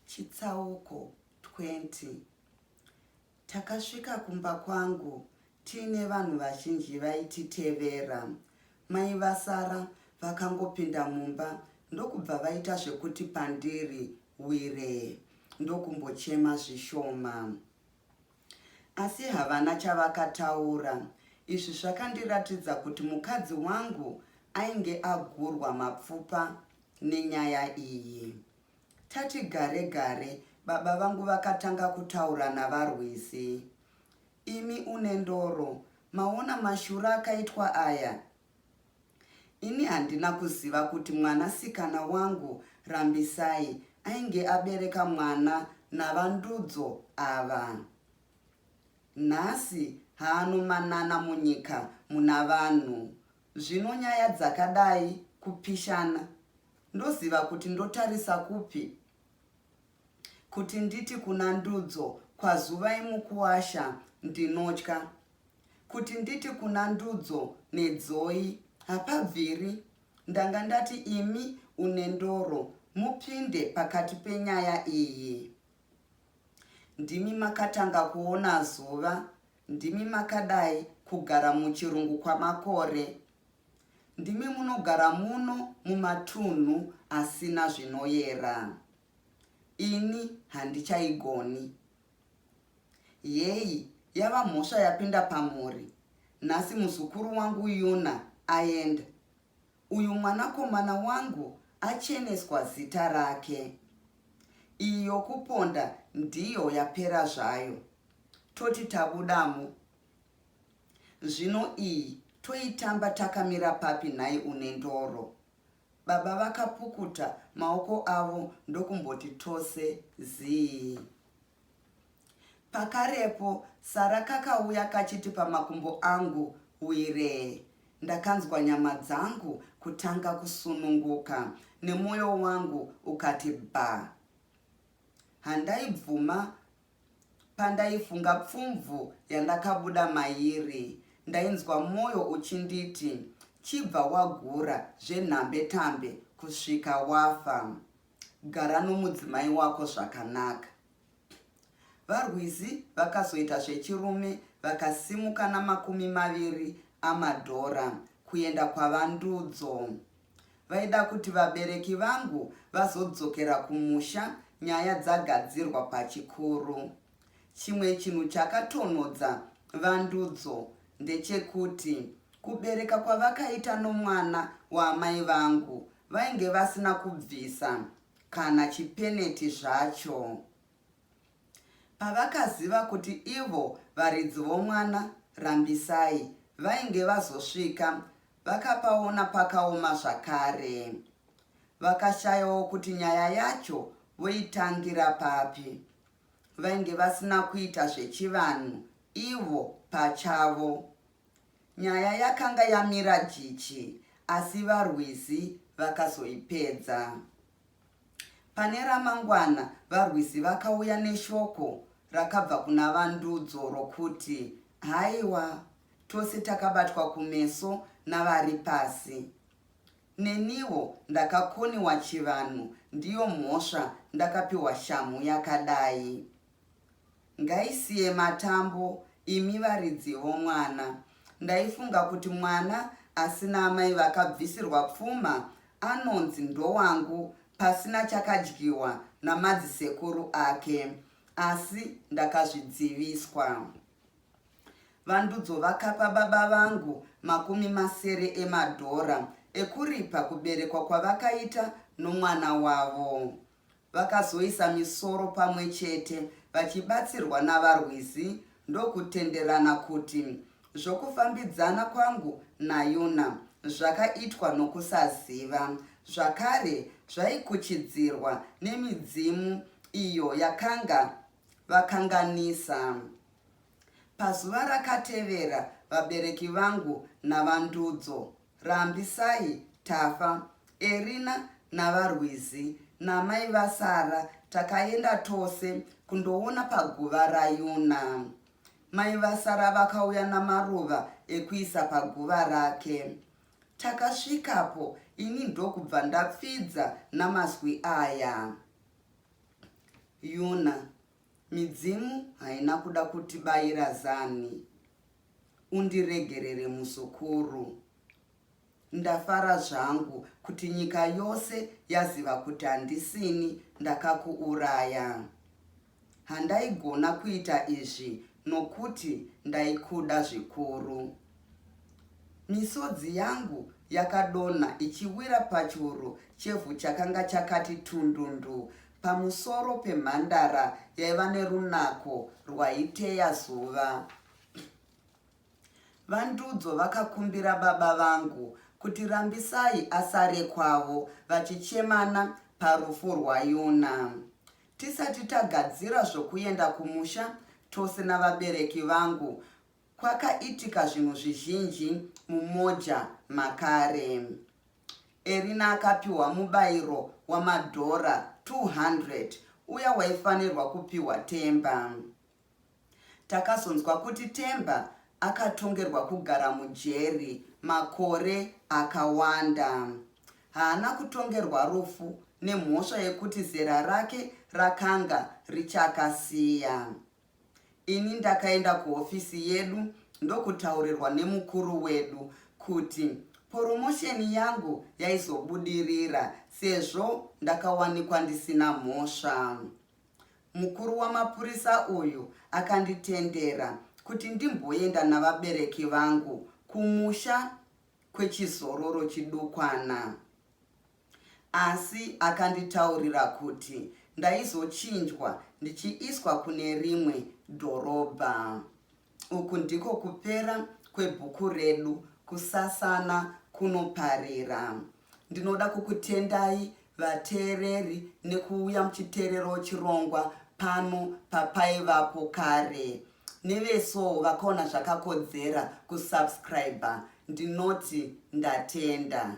Chitsauko 20 Takasvika kumba kwangu tiine vanhu vazhinji vaititevera. Mai vasara vakangopinda mumba ndokubva vaita zvekuti pandiri wire ndokumbochema zvishoma. Asi havana chavakataura. Izvi zvakandiratidza kuti mukadzi wangu ainge agurwa mapfupa nenyaya iyi. Tati gare gare baba vangu vakatanga kutaura naVaRwizi. Imi une ndoro, maona mashura akaitwa aya? Ini handina kuziva kuti mwana sikana wangu Rambisai ainge abereka mwana naVaNdudzo ava. Nhasi haanomanana munyika muna vanhu. Zvino nyaya dzakadai kupishana ndoziva kuti ndotarisa kupi? Kuti nditi kuna Ndudzo kwaZuvai mukuwasha ndinotya Kuti nditi kuna Ndudzo neDzoyi hapabviri ndanga ndati imi uNendoro mupinde pakati penyaya iyi. Ndimi makatanga kuona zuva, ndimi makadai kugara muchirungu kwamakore. Ndimi munogara muno mumatunhu asina zvinoyera. ini handichaigoni yeyi yava mhosva yapinda pamhuri nhasi muzukuru wangu yuna aenda uyu mwanakomana wangu acheneswa zita rake iyo kuponda ndiyo yapera zvayo toti tabudamo zvino iyi toitamba takamira papi nhai une ndoro Baba vakapukuta maoko avo ndokumboti tose zii. Pakarepo Sara kakauya kachiti pamakumbo angu wiree. Ndakanzwa nyama dzangu kutanga kusununguka nemoyo wangu ukati bha. Handaibvuma Pandaifunga pfumvu yandakabuda mairi, ndainzwa moyo uchinditi chibva wagura zvenhambe tambe kusvika wafa. Gara nomudzimai wako zvakanaka. VaRwizi vakazoita zvechirume vakasimuka namakumi maviri amadhora kuenda kwaVaNdudzo. Vaida kuti vabereki vangu vazodzokera kumusha nyaya dzagadzirwa pachikuru. Chimwe chinhu chakatonhodza Vandudzo ndechekuti kubereka kwavakaita nomwana waamai vangu vainge vasina kubvisa kana chipeneti zvacho. Pavakaziva kuti ivo varidzi vomwana, Rambisai, vainge vazosvika, vakapaona pakaoma zvakare. Vakashayawo kuti nyaya yacho voitangira papi. Vainge vasina kuita zvechivanhu ivo pachavo. Nyaya yakanga yamira jichi asi vaRwizi vakazoipedza. Pane ramangwana, varwisi vakauya neshoko rakabva kuna Vandudzo rokuti, Haiwa, tose takabatwa kumeso navari pasi. Neniwo ndakakoniwa chivanhu, ndiyo mhosva ndakapiwa shamhu yakadai. Ngaisiye matambo imi varidzi vomwana. Ndaifunga kuti mwana asina amai vakabvisirwa pfuma anonzi ndowangu pasina chakadyiwa namadzisekuru ake asi ndakazvidziviswa. Vandudzo vakapa baba vangu makumi masere emadhora ekuripa kuberekwa kwavakaita nomwana wavo. Vakazoisa misoro pamwe chete vachibatsirwa navarwizi ndokutenderana kuti zvokufambidzana kwangu naYuna zvakaitwa nokusaziva. Zvakare, zvaikuchidzirwa nemidzimu iyo yakanga vakanganisa. Pazuva rakatevera, vabereki vangu naVaNdudzo Rambisai, Tafa, Erina naVaRwizi namai vasara takaenda tose kundoona paguva raYuna. Mai vasara vakauya namaruva ekuisa paguva rake. Takasvikapo ini ndokubva ndapfidza namazwi aya. Yuna, Midzimu haina kuda kutibaira zanhi. Undiregerere muzukuru. Ndafara zvangu kuti nyika yose yaziva kuti handisini ndakakuuraya. Handaigona kuita izvi nokuti ndaikuda zvikuru. Misodzi yangu yakadonha ichiwira pachuru chevhu chakanga chakati tundundu pamusoro pemhandara yaiva nerunako rwaiteya zuva. VaNdudzo vakakumbira baba vangu kuti Rambisai asare kwavo vachichemana parufu rwaYuna. Tisati tagadzira zvokuenda kumusha tose navabereki vangu, Kwakaitika zvinhu zvizhinji muMoja makare. Erina akapiwa mubairo wamadhora 200 uya waifanirwa kupiwa Themba. Takazonzwa kuti Themba akatongerwa kugara mujeri makore akawanda. Haana kutongerwa rufu nemhosva yekuti zera rake rakanga richakasiya. Ini ndakaenda kuhofisi yedu ndokutaurirwa nemukuru wedu kuti poromosheni yangu yaizobudirira sezvo ndakawanikwa ndisina mhosva. Mukuru wamapurisa uyu akanditendera kuti ndimboenda navabereki vangu kumusha kwechizororo chidukwana. Asi akanditaurira kuti ndaizochinjwa ndichiiswa kune rimwe dhorobha. Uku ndiko kupera kwebhuku redu Kusasana Kunoparira. Ndinoda kukutendai vateereri nekuuya muchiteererawo chirongwa pano papaivapo kare. Nevesowo vakaona zvakakodzera kusubscriber Ndinoti ndatenda.